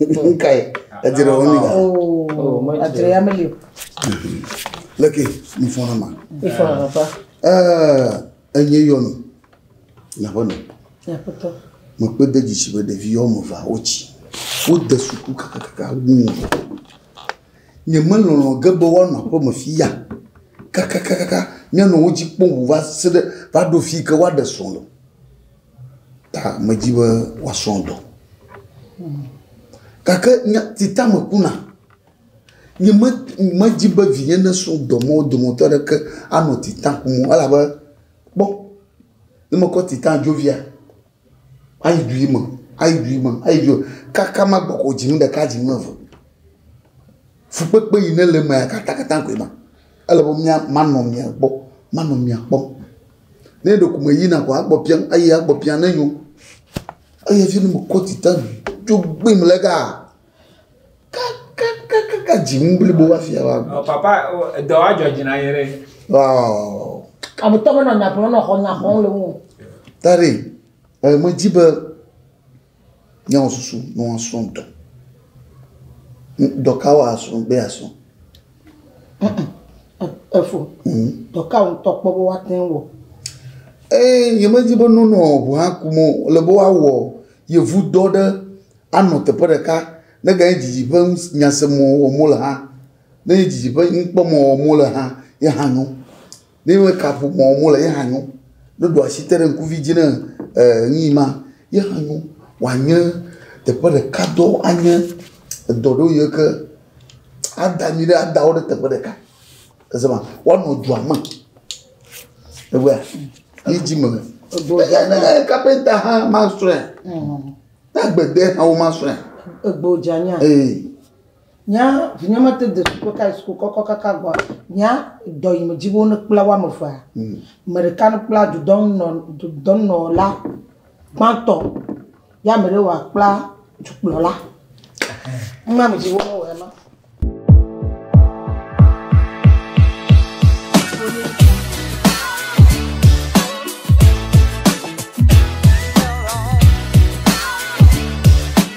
Nkae edze ɖe wɔmi da. Oh, adre ya meli o. Leke mi fɔ na ma. Mi fɔ na papa. Eh, enye yɔnu. Na bɔ ne. Ya papa. Mo pe de djisi be ɖevi yɔ mo va o ci. Wo de suku kaka kaka wu. Nye me lɔlɔ ge be wa na po me fi ya. Kaka kaka kaka. Nye no wo ji po va se de va do fi ke wa de so lo. Ta medi be woasrɔ dɔ. Gake nya si ta mekuna, nyemedi be vinye nasrɔ dɔ me wo dometɔ aɖeke anɔ titan kum o elabe kpɔ, ne mekɔ titan dzovia, ayi du ɣi me, ayi du ɣi me, ayi du ɣi me kaka magbɔ ko dzi nu ɖeka, dzi nu eve. Fukpekpe yi ne le emea katã koe ma. Ele be manɔ mia gbɔ, manɔ mia kpɔm. Ne ɖe ko me yina koa, egbɔ biam, eyi egbɔ biam ne nyo. Eyi hafi ne me kɔ dzi ta dzo gbim le ga kakakakaka dzi ŋu blibo hafi ava gbɔ. Ɔ, papa, o, edɔ wa dzɔ dzi na ye ɖe. Ɔɔ, Ametɔ menɔ nya gblɔm nɔ xɔ nya xɔm le ŋu. o. Daddy, e, medi be Míawɔ susu ne woasrɔ̃ ŋutɔ. Dɔ ka woasrɔ̃ be yeasrɔ̃? Efo, dɔ ka ŋutɔ kpɔ be woate ŋu wɔ? Ee, nyemedi be nonɔ ŋu hakum o. Ele be woawɔ yevudɔ ɖe anɔ teƒe ɖeka neganye didi ƒe ŋus nyaseme wɔm wole hã. Ne nye didi ƒe nukpɔmɔ wɔm wole hã ye hã nyo. Ne me ka ƒo mɔ mo le ye hã nyo. Ne ɖo asi te ɖe ŋkuvi dzi ne e nu yi ma ye hã nyo. Wa nye teƒe ɖeka dɔ anye edɔ ɖo yi ke ada mi ɖe ada wo ɖe teƒe ɖeka. Ese ma wa nɔ dua me. Egbea yi dzi me. Ego dza ne le kapenta hã ma srɔe. Na gbede hã wo ma srɔe. Ego dza nya. Ee. Nya, Vinye mete de suku ka yi suku kɔkɔ kaka gbɔa, nya, Dɔ yi me dzi be wo ne kpla woame evea, me ɖeka ne kpla dudɔnunɔ, dudɔnunɔla gbãtɔ ye ame ɖe wa kpla dukplɔla. Numa me dzi be wo ne wɔe ma.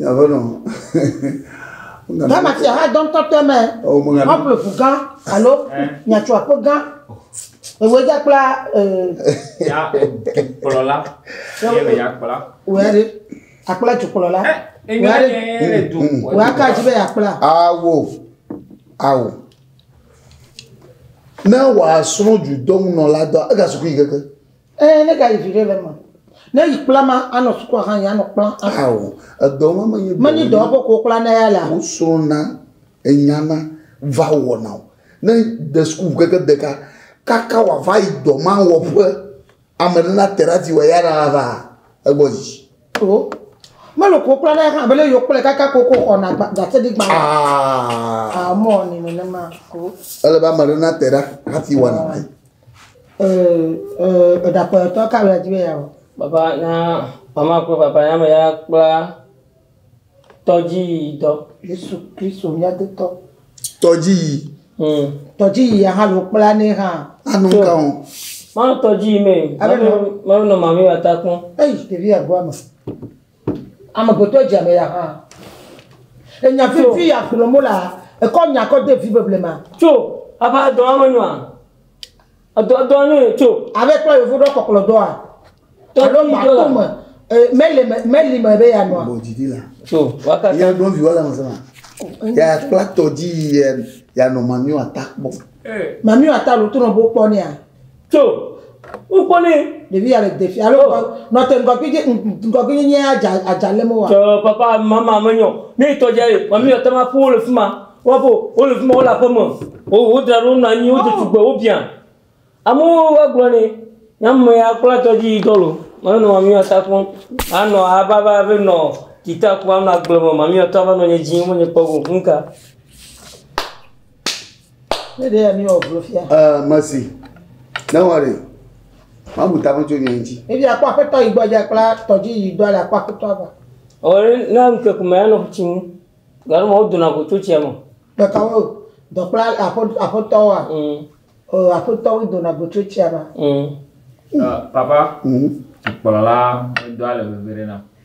Aƒenɔ. Ghana fia hã dɔ ŋutɔ tɔe mɛ. Woaƒle ʋu gã alo miatso aƒe gã. Ewɔe dza kpla dukplɔla. Ewɔe ya kpla. Wòya ɖe akpla dukplɔla. Wòya ɖe du. Wòya ka dzi be yakpla. Awo. Awo. Ne wòasrɔ̃ dudɔnunɔla dɔ ega sukui keke. Ɛɛ, ne gayi viɖe le eme. Ne yi kpla ma anɔ sukua hã yi anɔ kpla. Ao, edɔ ma menye dɔ. Menye dɔ wɔƒe ko wokpla na ya la. Wosrɔ̃na, enyana, va wɔna o. Ne de sukuʋu keke deka kaka wòava yi dɔ ma wɔƒe, ame ɖe na te ɖe ati wɔ ya la ava egbɔ dzi. O, mele ko wokpla na ya hã be ne yewokplɛ kaka ko wokɔ xɔna gba, ɖaseɖigbalẽ. Aa. Aa, mewɔnɛ nenema o. Ele be ame ɖe na te ɖe ati wɔna. Eɖakpɔyɔtɔ ka wòle di be yeawɔ? Papa na mama kple papa ya me ya kpla tɔdziyi dɔ. Yesu Kristo mía dotɔ. Tɔdziyi. Hmm. Tɔdziyi ya hã lo kpla ne hã. Anu ka o. Ma tɔdziyi me. Abe nɔ. Ma nɔ mami wa ta kpɔn. Eyi ɖevi ya goa me. Amegbetɔ dze ame ya hã. Enya vivi ya gblɔm wolea, ekɔ nya kɔ de vi be blema. Tso, ava edɔa me nyoa? Edɔa dɔa nyo ye tso. Ave kpɔ yevu ɖɔ kɔklɔ dɔa. Alo ma to me, mele me, meli me be ya nɔa. Tso, wakata. Ya ɖo viwa la me sema. Ya kpla tɔdzi ya ya nɔ mamiwa ta kpɔ. Mamiwa ta lo to nɔ bo kpɔ nea. Tso ŋkɔ nɛ. Ɖevi ya le defi alo oh. nɔ te ŋgɔgbi dzi ŋgɔgbi nyi nye adza adza le mo wa. Tso papa mama me nyɔ. Ne tɔ dze ye, mami yɔ te ma ƒu wo le fima. Wa bo wo le fima wo la ƒe me. Wo wo dra ɖo na nyi wo dze tugbe wo bia. Amu wa gblɔ nɛ. Na me ya kpla tɔ dzi dɔ lo. Ma nɔ mami wa sa kɔn. A nɔ a ba ba be nɔ kita ku a nɔ agble me mami wa tɔ va nɔ nye dzi mo nye kpɔ go ŋka. Ne ɖe ya mi wɔ vlo fia. Ɛɛ mesi. Ne wɔ ɖe. Mamu ta me tso nyɔ ŋuti. Ebi akpɔ aƒetɔ yi gbɔ dza kpla tɔdzi yi dɔ le akpɔ aƒetɔ ava. Ɔre na nke kuma ya no tsi mu. Garo mo do na go tso tsi mo. Be ka wo dɔ kpla aƒetɔ aƒetɔ wa. Mm. O aƒetɔ wo do na go tso tsi ma. Mm. Uh, papa. Mm. Kpɔla la do ale veve ɖe na.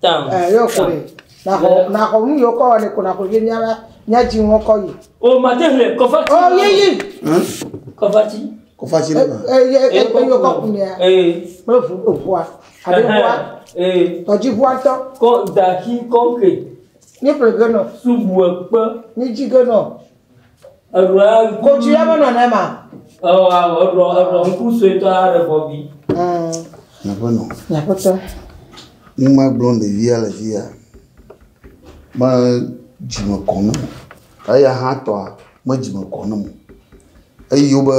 Tam. Ɛ yɔ ko ɖe. Na xɔ na xɔ nu yɔ kɔ ne ko na xɔ vie mia la mia dzi ŋɔ kɔ yi. O ma te hle kɔfa ti. O ye yi. Kɔfa ti. Kɔfa ti le ma. Ɛ yɛ ɛ yɔ kɔ ku ne. Ɛ. Kple ʋu o ʋua. Ale ʋua. Ɛ. Tɔdzi ʋua tɔ. Kɔ da ki kɔ ke. Ni ƒle ge nɔ. Subu ekpe. Ni dzi ge nɔ. Eɖɔa ŋku. Kodzi ya menɔ ne ma. Ewɔ awɔ eɖɔ eɖɔ ŋku suetɔ aɖe bɔbi. Nyaƒe nɔ. Nyaƒetɔ. Ŋma gblɔ ɖevia le fi ya. Me dzime kɔ ne mo. Eya hã tɔa me dzime kɔ ne mo. Eyi wobe.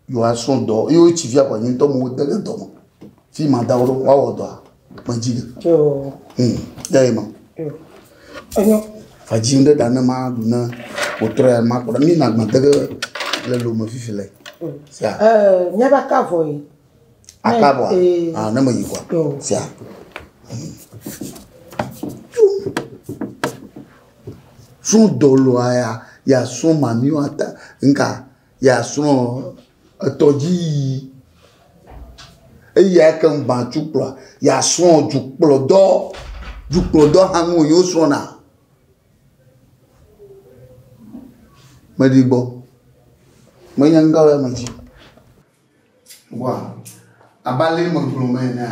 Yo a srɔ dɔ yo ci via kwa nyuntɔ mo de ne dɔ mo. Fi ma da wo wa wo dɔ. Me ji de. Yo. Hmm. Ya e ma. Yo. Enyo. Fa ji nde da ne ma du ne o trɔ ya ma kora mi na gba de le lo me fifi le. Sia. Eh, nya ba ka vo yi. Aka bo. Ah, ne me yi kwa. Yo. Sia. Sun dolo aya ya sun mamiwa ta nka. Yeasrɔ̃ etɔdziyiyi. Eyi ake ŋu gbã tsu kplɔa. Yeasrɔ̃ dzukplɔdɔ. Dzukplɔdɔ hã nu wònye wosrɔ̃na. Meɖi gbɔ. Menya nu ka wòle eme dzi. Wa, abe ale megblɔ me enea,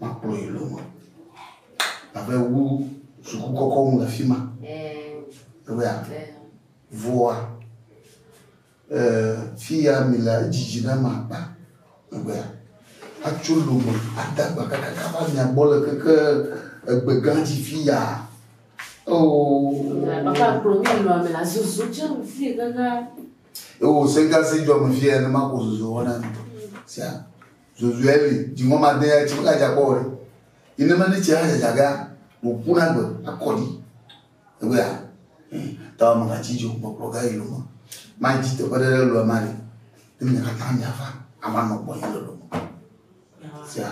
Makplɔ yi lome. Abe wu suku kɔkɔ ŋu le fi ma. Ewɔa. Vɔa. Fi ya mi le edzidzi na ma akpa. Ewɔa. Atso lome ada gba kakaka va mia gbɔ le keke egbe gã dzi fi ya. Oo. Papa kplɔ mi nɔ ame la zozo tse fi ganga. Ewo sega si jɔ me fi ya ne ma ko zozo wɔna. Sia. Zozue li dziŋɔ made ya tsi mega dza kpɔ ɖe. Yi ne meli tsia dzadza gea wò ku na gbe akɔ dzi. Egbe ya. Ta wɔ mega tsi dzo kpɔkplɔ ga yi lome. Ma dzi teƒe ɖe ɖe lɔe ma li. Ne mi kata mi ava ama nɔ gbɔ yi le lome. Sia.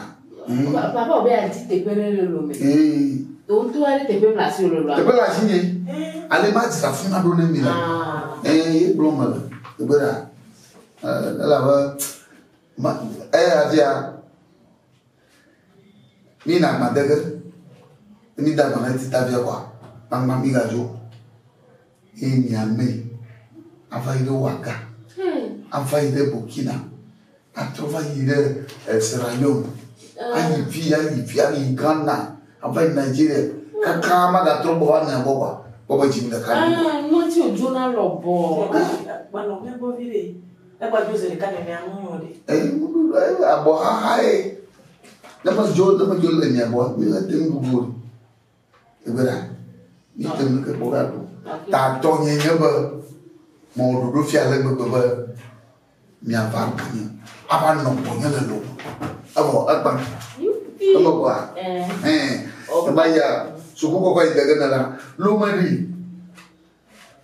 Papa wɔ be ya dzi teƒe ɖe le lome. Ee. To ŋutɔ wa ɖe teƒe mla si wò lolo. Teƒe la si nye. Ale ma dzi afi ma ɖo ne mi le. Ee ye gblɔ me le. Egbe ya. Ela be. Eyafia, mína agba de ge. Ne míde agba na ŋutita via kɔa, gbagbã mígadzo o. Ye miamee ava yi ɖe Ouaga, ava yi ɖe Burkina, atrɔ va yi ɖe eh, Sierra Leone, ayi fi, ayi fi, ayi Ghana, ava yi Nigeria, kaka magatrɔ gbɔ va mia gbɔ kɔa, gbɔ be dzi mi ɖeka ɖi o. Ah, ŋɔti odzona lɔbɔ. Agbanɔ mɛgbɔ viɖe. Egba dzo zeɖeka nenea nu nyo ɖe. Eyi ŋuɖu ɖo eyi abɔ xaxa ye. Ne me dzo ne me dzo le mi abɔ mi le te ŋu vo. Egbe ɖa. Mi te ŋu ke kpɔ ga ɖo. Ta tɔ nye nye be mo ɖoɖo fia le gbegbe be mi ava ɖo nye. Ava nɔ gbɔ nye le lo. Ebo egba. Ebo ba. Eh. Eba ya. Suku koko yi dege ne la. Lo me di.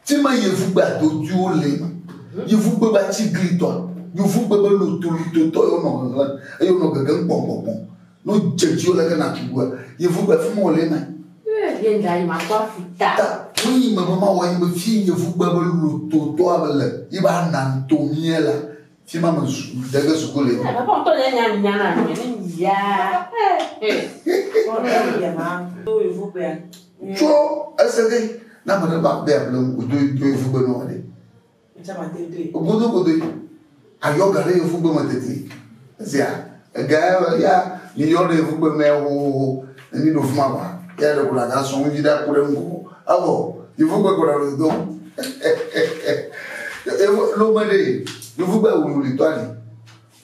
Fima yevugbe adodwiwo le, yevugbe be atsiglitɔ, yevugbe be lotolitotɔ ye wonɔ ŋeŋlem eye wonɔ gegem kpɔnkpɔnkpɔn. Ne wodze edzi wo leke nàtu ŋua, yevugbe fima wole eme. Ye ŋda yi makpɔ afi ta. Ta wonyi me be mawɔ yi be fi yevugbe be lototɔa be le yi be ananto mie la. Fi ma me de ge suku le. Baba kɔ tɔ le nya nya na mi ni ya. Kɔ le ya ma. Do yi vu pe. Tso ese de na me ba be able o do do yi vu pe no ale. Echa ma te do. O bodo bodo. Ayo gare yi vu pe ma te te. Zia. Egae be ya miyɔ ɖe yevu kpe mɛ hohoho ne mi ɖo fuma ba ya ɖe kuna ga sɔn ŋdzi ɖa ku ɖe ŋgɔ evɔ yevu kpe kɔna ɖo do evo lo me ɖe yevu kpe wulu li tɔ ali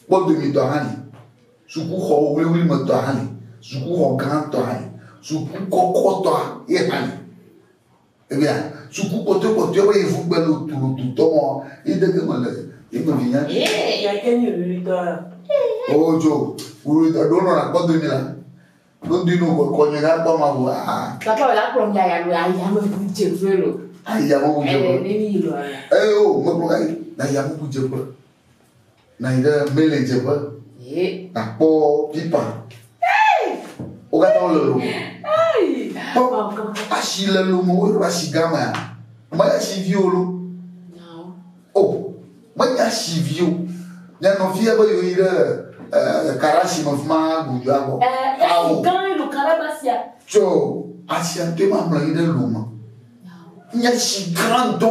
kpɔ domi tɔ hã li suku xɔ wuli wuli me tɔ hã li suku xɔ gã tɔ hã li suku kɔkɔ tɔ ye hã li. Evea suku kpɔtɔe kpɔtɔe be yevu gbe lo tulu tu tɔ mɔ yi dege me le yi me vi nya. Ye ya ke ni ruri tɔ ya. O jo ruri tɔ do no na kpɔ do ni la. Do di no ko ko ni ga kpɔ ma bu a. Ta pa la kpɔ nga ya lo ya ya me bu je fe lo. Ai ya me bu je. E ni lo. E o me kpɔ ai na ya me bu je fe. Nɔ anyi ɖe Mele dzeƒe. Ye. Nakpɔ Pipa. Wo katã wole lome. Kpɔ asi le lome woɖo asi gamea. Mele asi vi wo lo. O menye asi vi o. Nye nɔvi ebe yewo yi ɖe eh, karasi me fi ma gudu abɔ. Eh, Awo. Gã elu karabasia. Tsɔ asia to ma mlɔ anyi ɖe lome. Nye asi gã dɔ.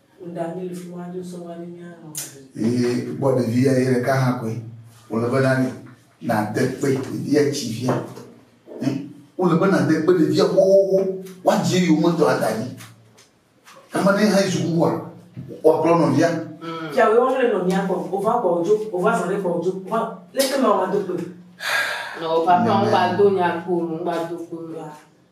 Eye kpɔ ɖevi ya ye ɖeka hã koe wòle be na mi nàde kpe ɖevia tsi via. Wòle be nàde kpe ɖevia xoxoxo woadzi eyi wometɔ ada dzi. Ame ɖe hã yi sukuxua woaklɔ nɔvia. Fia wòye wɔm le nɔvia kpɔ wòva kpɔ wòdzo wòva zɔ ɖe kpɔ wòdzo wa leke ma wòado kpe. Nɔ patron ŋgba do nya kpo ŋgba do kpe.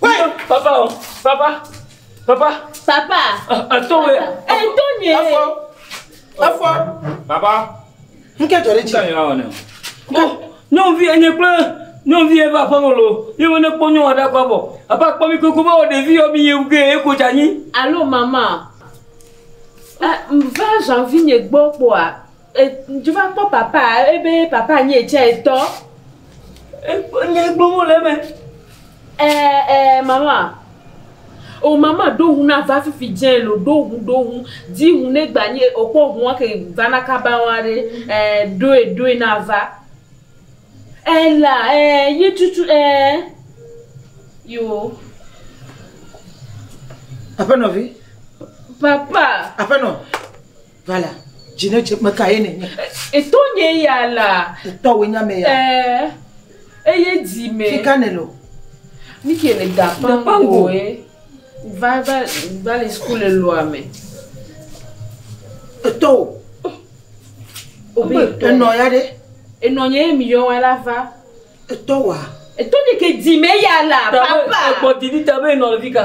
Papa o, papa, papa. Papa. Eto wɛ. Eto nye. Efɔ. Efɔ. Papa. Nke jɔ ɖe dzi. Nke nyɔa wɔnɛ. Ko nyɔnuvi enye kple nyɔnuvi ebe aƒe me lo. Ye wo ne kpɔ nyɔnua ɖe akpa bɔ. Apa kpɔ mi koko be wɔ ɖevi yɔ mi ye ge ye ko dza nyi. Alo mama. Eh, va janvi nye gbɔ kpɔa. Ŋutsu va kpɔ papa ebe papa nyi etsɛ tɔ. Ekpɔ nu yi gblɔm wole eme. Ɛɛ ɛɛ mama o mama ɖo ŋu na va fifi dze lo ɖo ŋu ɖo ŋu. Di ŋu ne gba nyi ekpɔ ŋua ke va na kaba wa ɖe ɛɛ ɖoe ɖoe na va. Ela ɛɛ yi tutu ɛɛ yoo. Aƒenɔvi. Papa. Aƒenɔ. Va la, dzi ne dze. Meka ye nènye. Etɔ nye ya la. Etɔ wòe nye ame ya. Ɛɛ, eye dzi me. Fi ka nèle o? Nu ke le da ƒã ŋgɔe. Va, va, va le suku le lɔa me. Etɔ wò. Obe etɔ. Enɔ ya ɖe? Enɔ nye ye mi yɔ wa la va. Etɔ wòa? Etɔ nye ke dzi me ya la. Papa! Egbɔ didi ta be enɔ le fi ka?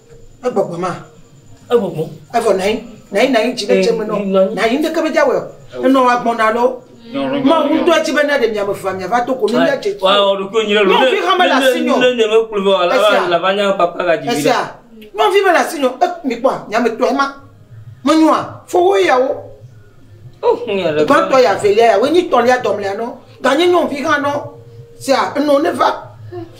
Egbɔgbɔ ma. Egbɔgbɔ. Evɔ nayi nayi nayi dzi ɖe dze me nɔ nayi ŋdeke me dza wɔ enɔ wa gbɔn na lɔ. Ma wu ŋdɔ dzi be na ɖe mia me fa mia va to ko mi nya dze tsi. Wa o ɖo ko nyi ɖe lo. Nɔvi ha me la si nyo. Ne ne me kplu vɔ la va la va nya papa ga dzi. Esia. Nɔvi me la si nyo e mi kpɔ nya me tɔ ma. Me nyoa fo wo ya wo. O hu ya ɖe. Gbɔn tɔ ya velia ya wo nyi tɔ lia dɔ mlia nɔ. Ga nyi nɔvi ha nɔ. Sia enɔ ne va.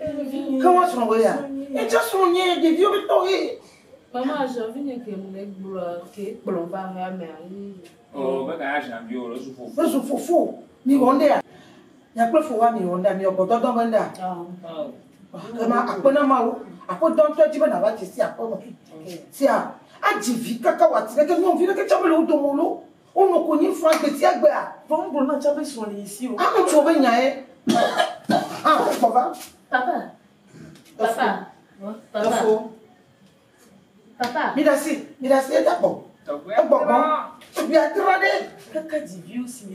Ke woasrɔ̃ wò ya? Ye tsɛ srɔ̃ nye ɖeviwo be tɔxɛ. Maman Jean Vigne ke mu ne gblɔ ke kplɔ va hea me ayi. O be ka ya Jean Vigne le su fofo. Ezu fofo. Mi wɔ nda. Nya kple fo wa mi wɔ nda mi wɔ gbɔdɔdɔ be nda. Ke ma akpe na ma wo. Aƒe dɔ ntɔ dzi be na va dzi si aƒe me. Sia. Adzi vi kaka wa ti ɖe ke nyɔ vi ɖe ke tsɛ me le wo domo lo. Wo nɔ konyi faa gbesiagbea. Vɔ ŋgblɔ na tsã be srɔ̃ li yi si o. Ame tsiwo be nyae hã gbɔ va. Papa, papa, papa. Efo. Papa. Mi ɖasi, mi ɖasi eda gbɔ. Egbɔ gbɔ. Tugbiadra ɖe. Kaka dziviwo si.